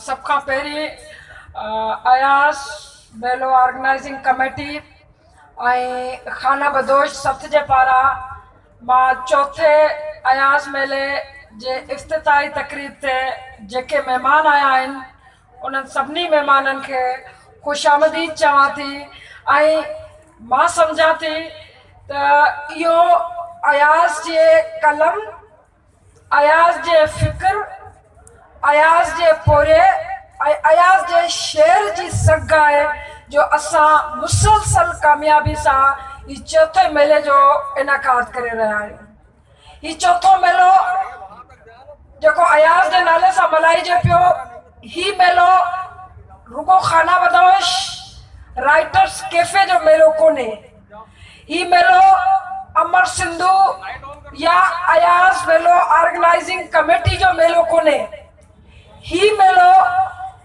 سڀ کان پهرين اياز ميلو آرگنائزنگ ڪميٽي ۽ خانه بدوش سٿ جي پاران مان چوٿين اياز ميلي جي افتتاحي تقريب تي جيڪي مهمان آيا آهن انهن سڀني مهمانن کي خوش آمديد چوان ٿي ۽ مان سمجهان ٿي ته اهو اياز جي قلم اياز جي فڪر، اياز جي پورهئي ۽ اياز جي شعر جي سگهه آهي جو اسان مسلسل ڪاميابي سان هي چوٿين ميلي جو انعقاد ڪري رهيا آهيون. هي چوٿون ميلو جيڪو اياز جي نالي سان ملهائجي پيو، هي ميلو رڳو خانه بدوش رائيٽرس ڪيفي جو ميلو ڪونهي، هي ميلو امر سنڌو يا اياز ميلو آرگنائيزنگ ڪميٽي جو ميلو ڪونهي. هي ميلو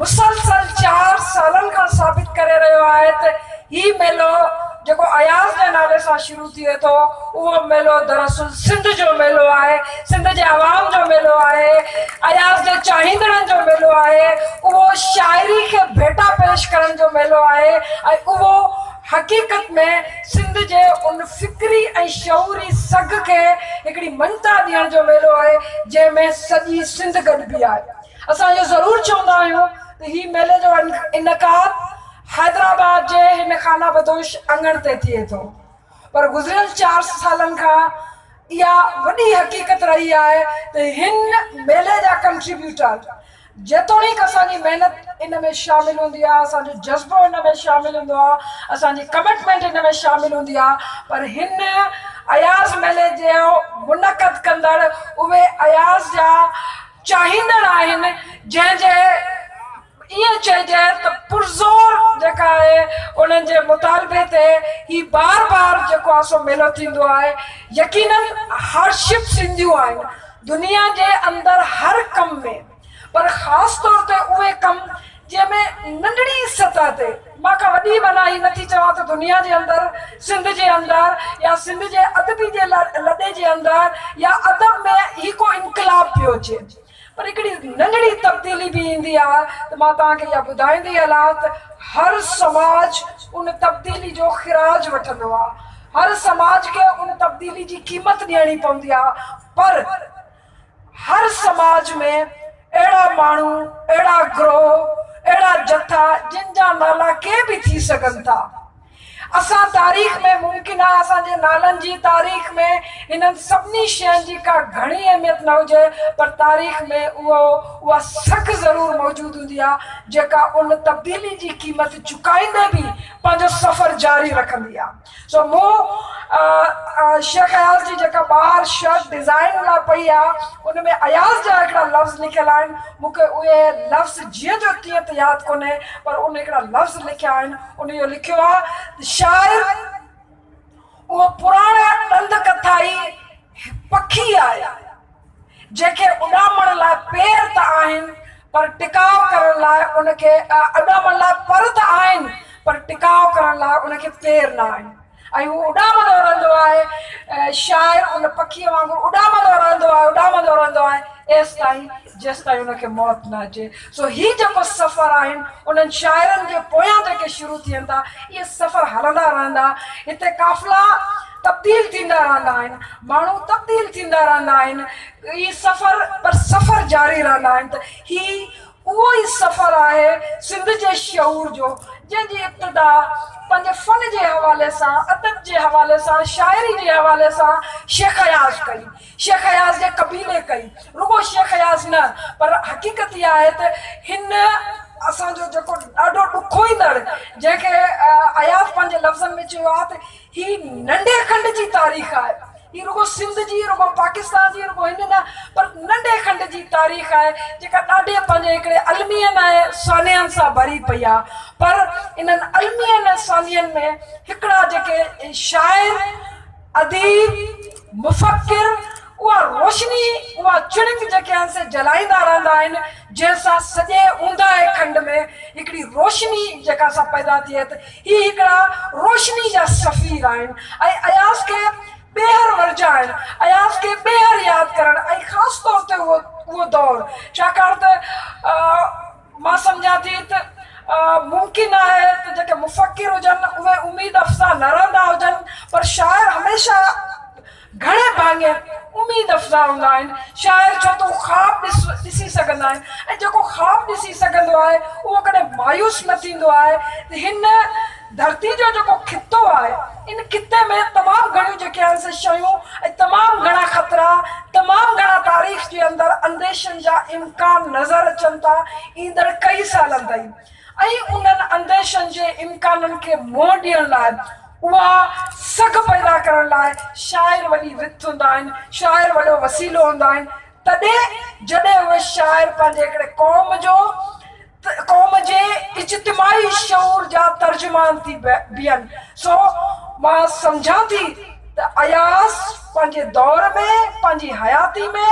مسلسل چار سالن کان ثابت ڪري رهيو آهي ته هي ميلو جيڪو اياز جي نالي سان شروع ٿئي ٿو اهو ميلو دراصل سنڌ جو ميلو آهي، سنڌ جي عوام جو ميلو آهي، اياز جي چاهيندڙن جو ميلو آهي، اهو شاعري کي ڀيٽا پيش ڪرڻ جو ميلو آهي ۽ اهو حقيقت ۾ سنڌ جي ان فڪري ۽ شعوري سگهه کي هڪڙي مڃتا ڏيڻ جو ميلو آهي جنهن ۾ سڄي سنڌ گڏبي آهي. اسان اهو ضرور چوندا آهيون ته هي ميلي جو انعقاد حيدرآباد جي هن خانه بدوش اڱڻ تي ٿئي ٿو پر گذريل چار سالن کان اها وڏي حقيقت رهي آهي ته هن ميلي جا ڪنٽريبيوٽر جيتوڻيڪ اسان جي محنت ان ۾ شامل هوندي آهي، اسان جو جذبو ان ۾ شامل هوندو آهي، اسان جي ڪمٽمينٽ ان ۾ شامل هوندي آهي پر هن اياز ميلي جو منعقد ڪندڙ اهي اياز جا چاهيندڙ آهن جنهن جي ائين چئجي ته پرزور جيڪا آهي انهن جي مطالبي تي هي بار بار جيڪو آهي سو ميلو ٿيندو آهي يقينن هارڊشپ سنڌيون آهن دنيا جي اندر هر ڪم ۾، پر خاص طور تي اهي ڪم جنهن ۾ ننڍڙي سطح تي، مان ڪا وڏي معنيٰ هي نٿي چوان ته دنيا جي اندر، سنڌ جي اندر يا سنڌ جي ادبي جي لڏي جي اندر يا ادب ۾ هي ڪو انقلاب پيو اچي، پر هڪڙي ننڍڙي تبديلي به ايندي آ ته مان توهان کي اها ٻڌائيندي هلان ته هر سماج ان تبديلي جو خراج وٺندو آ. هر سماج کي ان تبديلي جي قيمت ڏيڻي پوندي آهي پر هر سماج ۾ اهڙا ماڻهو، اهڙا گروهه، اهڙا جٿا جن جا نالا ڪي به ٿي سگهن ٿا. اسان تاريخ ۾ ممڪن آهي اسان جي نالن جي تاريخ ۾ انهن سڀني شين جي ڪا گهڻي اهميت نه هجي پر تاريخ ۾ اهو اها سگهه ضرور موجود هوندي آهي جيڪا ان تبديلي جي قيمت چڪائيندي به پنهنجو سفر جاري رکندي آ سو مون شيخ اياز جي جيڪا ٻاهر شرٽ ڊزائين لاء پئي آ ان ۾ اياز جا هڪڙا لفظ لکيل آهن مون کي اهي لفظ جيئن جو تيئن ته ياد ڪونهي پر ان هڪڙا لفظ لکيا آهن ان اهو لکيو آ ته شاعر اهو پراڻا ڏند ڪٿائي پکي آهي، جنهن کي اڏامڻ لاء پير ته آهن پر ٽڪاء ڪرڻ لاء ان کي اڏامڻ لاء پر ته آهن پر ٽڪاء ڪرڻ لاء ان کي پير نه آهن ۽ هو اڏامندو رهندو آهي. شاعر ان پکيء وانگر اڏامندو رهندو آهي، اڏامندو رهندو آهي ايستائين جيستائين ان کي موت نه اچي. سو هي جيڪو سفر آهن، انهن شاعرن جي پويان جيڪي شروع ٿين ٿا، اهي سفر هلندا رهندا. هتي قافلا تبديل ٿيندا رهندا آهن، ماڻهو تبديل ٿيندا رهندا آهن، اهي سفر پر سفر جاري رهندا آهن ته هي اهو ئي سفر آهي سنڌ جي شعور جو، جنهن جي ابتدا پنهنجي فن جي حوالي سان، ادب جي حوالي سان، شاعري جي حوالي سان شيخ اياز ڪئي. شيخ اياز جي قبيلي ڪئي. رڳو شيخ اياز نه پر حقيقت اها آهي ته هن اسان جو جيڪو ڏاڍو ڏکوئيندڙ جنهن کي اياز پنهنجي لفظن ۾ چيو آهي ته هي ننڍي کنڊ جي تاريخ آهي. هي رڳو سنڌ جي، رڳو پاڪستان جي، رڳو هن نه پر ننڍي کنڊ جي تاريخ آهي جيڪا ڏاڍي پنهنجي هڪڙي المين ۽ سانحن سان ڀري پئي آهي پر انهن المين ۽ سانحن ۾ هڪڙا جيڪي شاعر اديب، مفڪر، اها روشني، اها چڻڪ جيڪي هن سين جلائيندا رهندا آهن، جنهن سان سڄي اونداهي کنڊ ۾ هڪڙي روشني جيڪا سا پيدا ٿئي ته هي هڪڙا روشني جا سفير آهن ۽ اياز کي ٻيهر ورجائڻ، اياز کي ٻيهر ياد ڪرڻ ۽ خاص طور تي اهو دور ڇاڪاڻ ته مان سمجهان ٿي ته ممڪن آهي ته جيڪي مفڪر هجن اهي اميد افزا نه رهندا هجن پر شاعر هميشه گهڻي ڀاڱي اميد افزا هوندا آهن. شاعر ڇو ته هو خواب ڏسي سگهندا آهن ۽ جيڪو خواب ڏسي سگهندو آهي اهو ڪڏهن مايوس نه ٿيندو آهي. هن ڌرتي جو جيڪو خطو آهي، ان خطي ۾ تمام گهڻيون جيڪي آهن سي شيون ۽ تمام گهڻا خطرا، تمام گهڻا تاريخ جي اندر انديشن جا امڪان نظر اچن ٿا، ايندڙ ڪئي سالن تائين. ۽ انهن انديشن جي امڪانن کي منهن ڏيڻ لاء، اها سگهه پيدا ڪرڻ لاء شاعر وڏي وٿ هوندا آهن، شاعر وڏو وسيلو هوندا آهن، تڏهن جڏهن اهي شاعر پنهنجي هڪڙي قوم جو، قوم جي اجتماعي شعور جا ترجمان ٿي بيهن سو مان سمجهان ٿي ته اياز پنهنجي دور ۾ پنهنجي حياتي ۾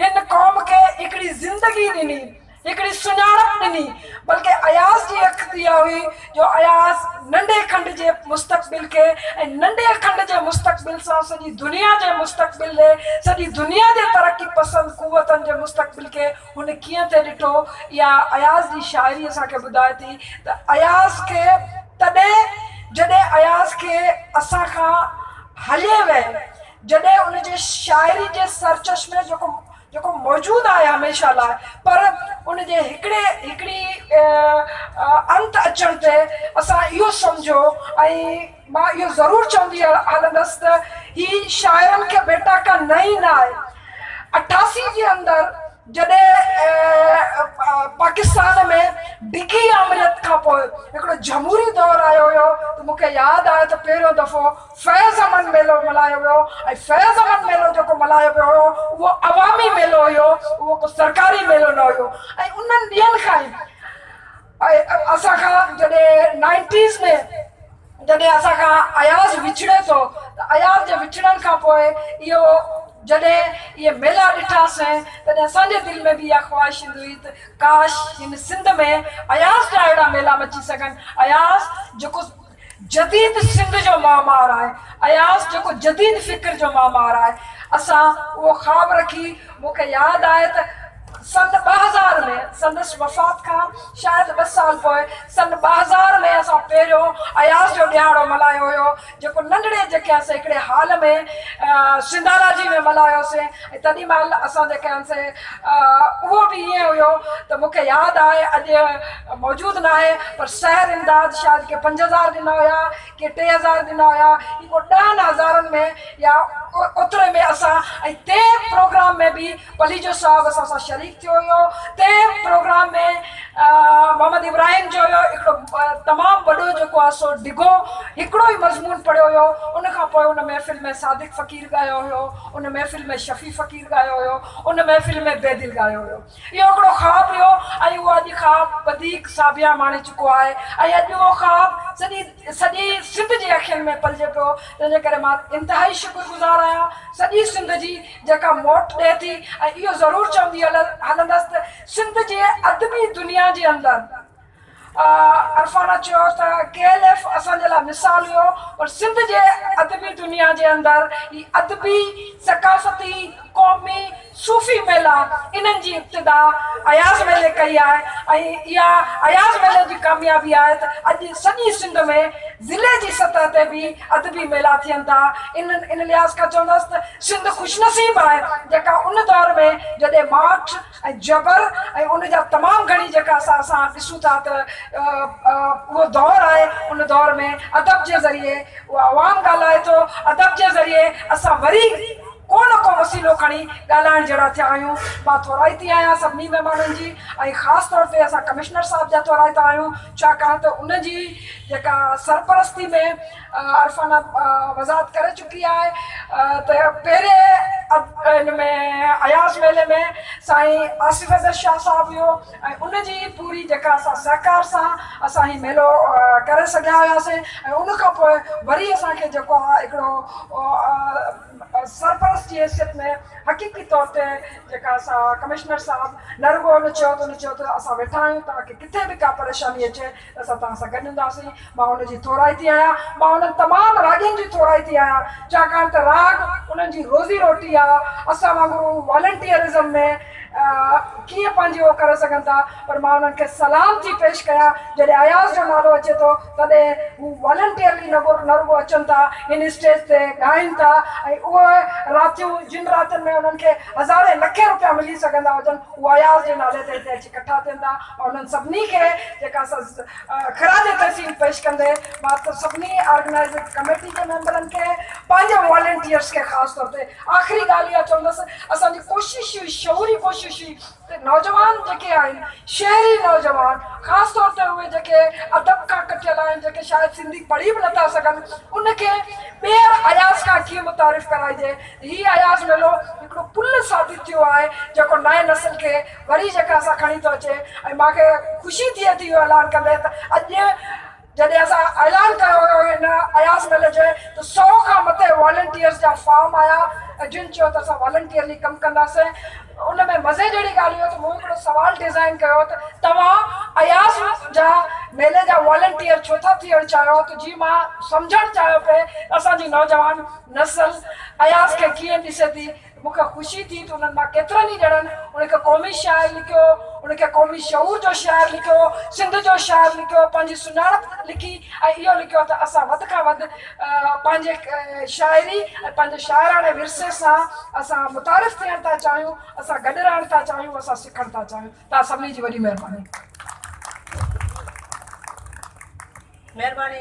هن قوم کي هڪڙي زندگي ڏني هڪڙي سڃاڻپ ڏني بلڪه اياز جي اک تي اها هئي جو اياز ننڍي کنڊ جي مستقبل کي ۽ ننڍي کنڊ جي مستقبل سان سڄي دنيا جي مستقبل ڏي سڄي دنيا جي ترقي پسند قوتن جي مستقبل کي هن ڪيئن ٿي ڏٺو؟ اها اياز جي شاعري اسان کي ٻڌائي ٿي ته اياز کي تڏهن جڏهن اياز کي اسان کان هلي وئي جڏهن ان جي شاعري جي سرچشمي جيڪو جيڪو موجود آهي هميشه لاء پر ان جي هڪڙي هڪڙي انت اچڻ تي اسان اهو سمجهيو ۽ مان اهو ضرور چوندي هلندس ته هي شاعرن کي بيٽا ڪا نئين نه آهي. اٺاسي جي اندر جڏهن پاڪستان ۾ ڊگهي آمريت کان پوء هڪڙو جهموري دور آيو هيو ته مون کي ياد آهي ته پهريون دفعو فيض امن ميلو ملهايو ويو ۽ فيض امن ميلو جيڪو ملهايو ويو هيو اهو عوامي ميلو هيو اهو ڪو سرڪاري ميلو نه هيو ۽ انهن ڏينهن کان ئي ۽ اسان کان جڏهن نائنٽيز ۾ جڏهن اسان کان اياز وڇڙي ٿو ته اياز جي وڇڙڻ کان پوء اهو جڏهن اهي ميلا ڏٺاسين تڏهن اسان جي دل ۾ به اها خواهش ايندي هئي ته ڪاش هن سنڌ ۾ اياز جا اهڙا ميلا مچي سگهن اياز جيڪو جديد سنڌ جو معمار آهي. اياز جيڪو جديد فڪر جو معمار آهي. اسان اهو خواب رکي مون کي ياد آهي ته سن ٻه هزار ۾ سندس وفات کان شايد ٻه سال پوء سن ٻه هزار ۾ اسان پهريون اياز جو ڏهاڙو ملهايو هيو جيڪو ننڍڙي جيڪي هئاسين هڪڙي هال ۾ سنڌاراجي ۾ ملهايوسين. تنھن مھل اسان جي ڪيان سي اھو به ائين ھيو ته مون کي ياد آھي اڄ موجود ناھي پر شھر امداد شايد ڪي پنج ھزار ڏنا ھيا ڪي ٽي ھزار ڏنا ھيا ھي ڪو ڏھن ھزارن ۾ يا اوتري ۾ اسان ۽ تنھن پروگرام ۾ به پليجو صاحب اسان سان شريڪ ٿيو ھيو تنھن پروگرام ۾ محمد ابراھيم جو ھيو ھڪڙو تمام وڏو جيڪو آھي سو ڊگھو ھڪڙو ئي مضمون پڙھيو ھيو ان کان پوء ان محفل ۾ صادق فقير ڳايو ھيو ان محفل ۾ شفيع فقير ڳايو هيو. ان محفل ۾ بيدل ڳايو هيو. اهو هڪڙو خواب هيو ۽ اهو اڄ خواب وڌيڪ ساڀيان ماڻي چڪو آهي ۽ اڄ اهو خواب سڄي سڄي سنڌ جي اکين ۾ پلجي پيو تنهن جي ڪري مان انتهائي شڪر گذار آهيان سڄي سنڌ جي جيڪا موٽ ڏئي ٿي ۽ اهو ضرور چوندي هلندس ته سنڌ جي ادبي دنيا جي اندر عرفانه چيو ته ڪي ايل ايف اسان جي لاء مثال هيو پر سنڌ جي ادبي دنيا جي اندر هي ادبي، ثقافتي، قومي، صوفي ميلا انهن جي ابتدا اياز ميلي ڪئي آهي ۽ اها اياز ميلي جي ڪاميابي آهي ته اڄ سڄي سنڌ ۾ ضلعي جي سطح تي به ادبي ميلا ٿين ٿا ان لحاظ کان چوندس ته سنڌ خوش نصيب آهي جيڪا ان دور ۾ جڏهن ماٺ ۽ جبر ۽ ان جا تمام گهڻي جيڪا اسان اسان ڏسون ٿا ته اهو دور آهي ان دور ۾ ادب جي ذريعي اهو عوام ڳالهائي ٿو ادب جي ذريعي اسان وري ڪو نه ڪو وسيلو کڻي ڳالهائڻ جهڙا ٿيا آهيون مان ٿورائتي آهيان سڀني مهمانن جي ۽ خاص طور تي اسان ڪمشنر صاحب جا ٿورائتا آهيون ڇاڪاڻ ته ان جي جيڪا سرپرستي ۾ عرفانه وضاحت ڪري چڪي آهي ته پهرين ان ۾ اياز ميلي ۾ سائين آصف حيدر شاهه صاحب هيو ۽ ان جي پوري جيڪا اسان سهڪار سان اسان هي ميلو ڪري سگهيا هياسين ۽ ان کان پوء وري اسان کي جيڪو آهي هڪڙو سرپرست جي حيثيت ۾ حقيقي طور تي جيڪا اسان ڪمشنر صاحب نه رڳو ان چيو ته ان چيو ته اسان ويٺا آهيون توهان کي ڪٿي به ڪا پريشاني اچي اسان توهان سان گڏ هونداسين. مان ان جي ٿورائتي آهيان. مان انهن تمام راڳين جي ٿورائتي آهيان، ڇاڪاڻ ته راڳ انهن جي روزي روٽي آ. اسان وانگر هو والنٽيئرزم ۾ ڪيئن پنهنجي اهو ڪري سگهن ٿا، پر مان انهن کي سلام ٿي پيش ڪيان. جڏهن اياز جو نالو اچي ٿو، تڏهن هو والنٽيئرلي نه رڳو اچن ٿا، هن اسٽيج تي ڳائين ٿا ۽ اهي راتيون، جن راتين ۾ انهن کي هزارين لکين روپيا ملي سگهندا هجن، هو اياز جي نالي تي هتي اچي ڪٺا ٿين ٿا. انهن سڀني کي جيڪا خراج تحسين پيش ڪندي مان سڀني آرگنائزنگ ڪميٽي جي ميمبرن کي پنهنجي والنٽيئرز کي خاص طور تي آخري ڳالهه اها چوندس اسان جي ڪوشش هئي شعوري ڪوشش هئي ته نوجوان جيڪي آهن شهري نوجوان خاص طور تي اهي جيڪي ادب کان ڪٽيل آهن جيڪي شايد سنڌي پڙهي به نٿا سگهن ان کي ٻيهر اياز کان ڪيئن متعارف ڪرائجي هي اياز ميلو هڪڙو پل ثابت ٿيو آهي جيڪو نئين نسل کي وري جيڪا اسان کڻي ٿو اچي ۽ مان کي خوشي ٿئي ٿي اهو اعلان ڪندي ته اڄ جڏهن اسان اعلان ڪيو هيو هن اياز ميلي جو ته سو کان مٿي والنٽيئرز جا فارم آيا ۽ جن چيو ته اسان والنٽيئرلي ڪم ڪنداسين ان ۾ مزي جهڙي ڳالهه اهو ته مون هڪڙو سوال ڊزائن ڪيو ته توهان اياز جا ميلي جا والنٽيئر ڇو ٿا ٿيڻ چاهيو ته جي مان سمجهڻ چاهيو پئي ته اسان جي نوجوان نسل اياز کي ڪيئن ڏسي ٿي مون کي خوشي ٿي ته انهن مان ڪيترن ئي ڄڻن ان کي قومي شاعر لکيو، ان کي قومي شعور جو شاعر لکيو، سنڌ جو شاعر لکيو، پنهنجي سڃاڻپ لکي ۽ اهو لکيو ته اسان وڌ کان وڌ پنهنجي شاعري ۽ پنهنجي شاعراڻي ورثي سان اسان متعارف ٿيڻ ٿا چاهيون، اسان گڏ رهڻ ٿا چاهيون، اسان سکڻ ٿا چاهيون. توهان سڀني جي وڏي مهرباني. مهرباني.